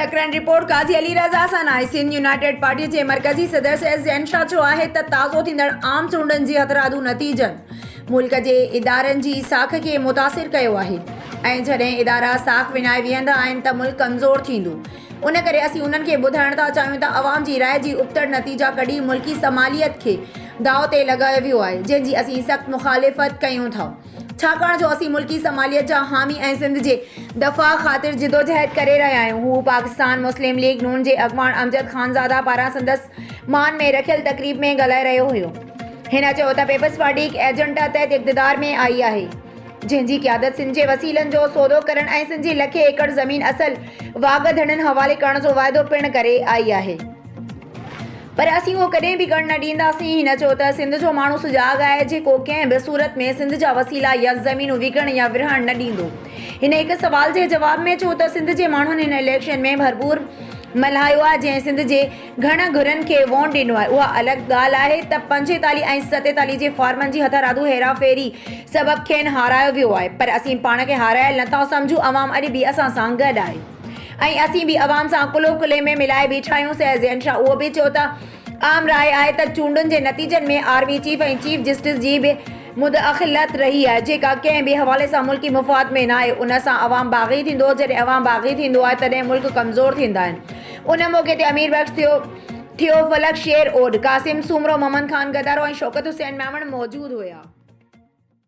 Secretary report Qazi Ali Raza سان آهي Sindh united party جي مرڪزي صدر سيد زين شاهه چيو آهي ته تازو ٿيندڙ عام چونڊن جي هٿرادو نتيجن ملڪ جي ادارن جي ساک کي متاثر ڪيو آهي ۽ جڏهن ادارا ساک ونائي ويهندا آهن ته ملڪ ڪمزور ٿيندو ان ڪري اسين انهن کي ٻڌائڻ ٿا چاهيون ته عوام جي راء جي ابتڙ نتيجا ڪڍي ملڪي سماليت کي داء تي لڳايو ويو آهي جنهن جي اسين سخت مخالفت ڪيون ٿا ڇاڪاڻ جو اسين ملڪي سماليت جا حامي ۽ سنڌ جي دفاع خاطر جدوجهد ڪري رهيا آهيون. هو پاڪستان مسلم ليگ نون جي اڳواڻ امجد خانزاده پاران سندس مان ۾ رکيل تقريب ۾ ڳالهائي رهيو هيو. هن چيو ته پيپلز پارٽي هڪ ايجنڊا تحت اقتدار ۾ آئي آهي، جنهن جي قيادت سنڌ جي وسيلن جو سودو ڪرڻ ۽ سنڌ جي لکين ايڪڙ زمين اصل واڳ ڌڻين حوالي ڪرڻ جو واعدو پڻ ڪري آئي آهي. پر اسين اهو ڪڏهن به ڪرڻ نه ڏينداسين، هن چيو ته سنڌ جو ماڻهو سجاڳ آهي، جيڪو ڪنهن به صورت ۾ سنڌ جا وسيلا يا زمينون وڪڻڻ يا ورهائڻ نه ڏيندو. هن هڪ سوال جي جواب ۾ چيو ته سنڌ جي ماڻهن هن اليڪشن ۾ ڀرپور ملهايو آهي، جنهن سنڌ جي گهڻ گهرن کي وونٽ ڏنو آهي، اها الڳ ڳالهه آهي ته پنجيتاليهه ۽ ستيتاليهه جي فارمن جي هٿرادو هيراڦيري سبب کين هارايو ويو آهي، پر اسين پاڻ کي هارايل نه ٿا سمجهون، عوام اڄ به اسان سان گڏ آهي. ۽ اسين به عوام سان ڪلهو ڪلهي ۾ ملائي بيٺا آهيون سيد زين شاهه اهو به چيو ته عام راء آهي ته چونڊن جي نتيجن ۾ R V chief ۽ chief justice جي به مداخلت رهي آهي جيڪا ڪنهن به حوالي سان ملڪي مفاد ۾ ناهي ان سان عوام باغي ٿيندو جڏهن عوام باغي ٿيندو آهي تڏهن ملڪ ڪمزور ٿيندا آهن ان موقعي تي امير بخش ٿيو ٿيو فلڪ شير اوڏ قاسم سومرو محمد خان گدارو ۽ شوڪت حسين ميمڻ موجود هيا.